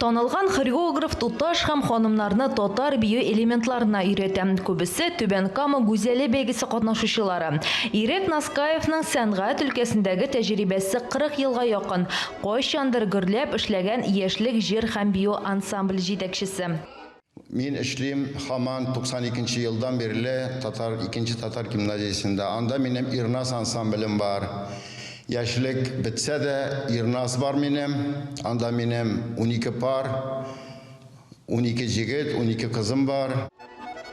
Танылган хореограф туташ һәм ханымнарны татар бию элементларына өйрәтә. Күбесе Түбән Кама гүзәле бәйгесе катнашучылары. Ирек Наскаевның сәнгать өлкәсендәге тәҗрибәсе 40 елга якын, кайчандыр гөрләп эшләгән Яшьлек җыр һәм бию ансамбль җитәкчесе. Мин эшлим хаман 92 нче елдан бирле татар икенче татар гимназиясендә. Анда минем Ирназ ансамблем бар. Яшьлек бетсә дә Ирназ бар минем. Анда минем унике пар, унике җегет, унике кызым бар.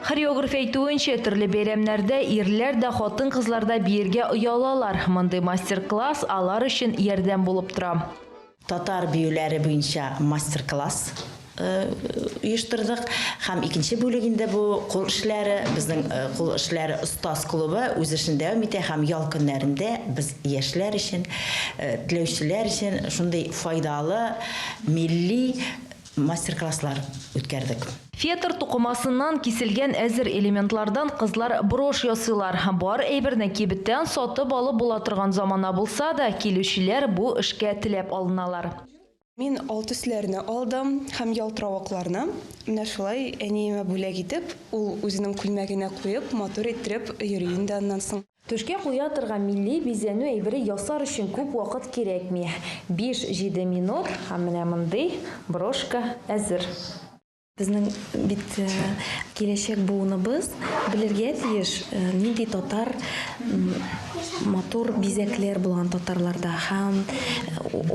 Хореограф әйтүенчә, төрле бәйрәмнәрдә ирләр дә, хатын-кызлар да биергә оялалар. Мондый мастер-класс алар өчен ярдәм булып тора. Татар биюләре буенча мастер-класс оештырдык һәм икенче бүлек инде бу кул эшләре, безнең кул эшләре остаз клубы үз эшен дәвам итә һәм ял көннәрендә без яшьләр өчен, теләүчеләр өчен шундый файдалы милли мастер-класслар үткәрдек. Фетр тукымасыннан киселгән әзер элементлардан кызлар брошь ясыйлар. Бар әйберне кибеттән сатып алып була торган замана булса да, килүчеләр бу эшкә теләп алыналар. Мин ал төсләрне алдым һәм ялтыравыкларны. Менә шулай әниемә бүләк итеп, ул үзенең күлмәгенә куеп, матур иттереп йөри инде аннан соң. Түшкә куя торган милли бизәнү әйбере ясар өчен күп вакыт кирәкми, биш-җиде минут һәм менә мондый брошка әзер. Безнең бит киләчәк буыныбыз белергә тиеш, нинди татар матур бизәкләр булган татарларда һәм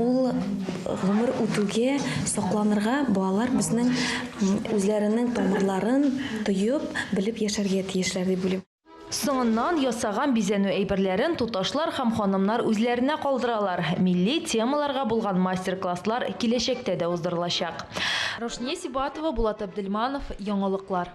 ул гомер үтүгә сакланырга балалар безнең үзләренең тамырларын тоеп, белеп яшәргә тиешләр дип уйлыйм. Соңыннан ясаган бизәнү әйберләрен туташлар һәм ханымнар үзләренә калдыралар. Милли темаларга булган мастер-класслар киләчәктә дә уздырылачак. Рушния Сибатова, Булат Абдельманов, Яңалыклар.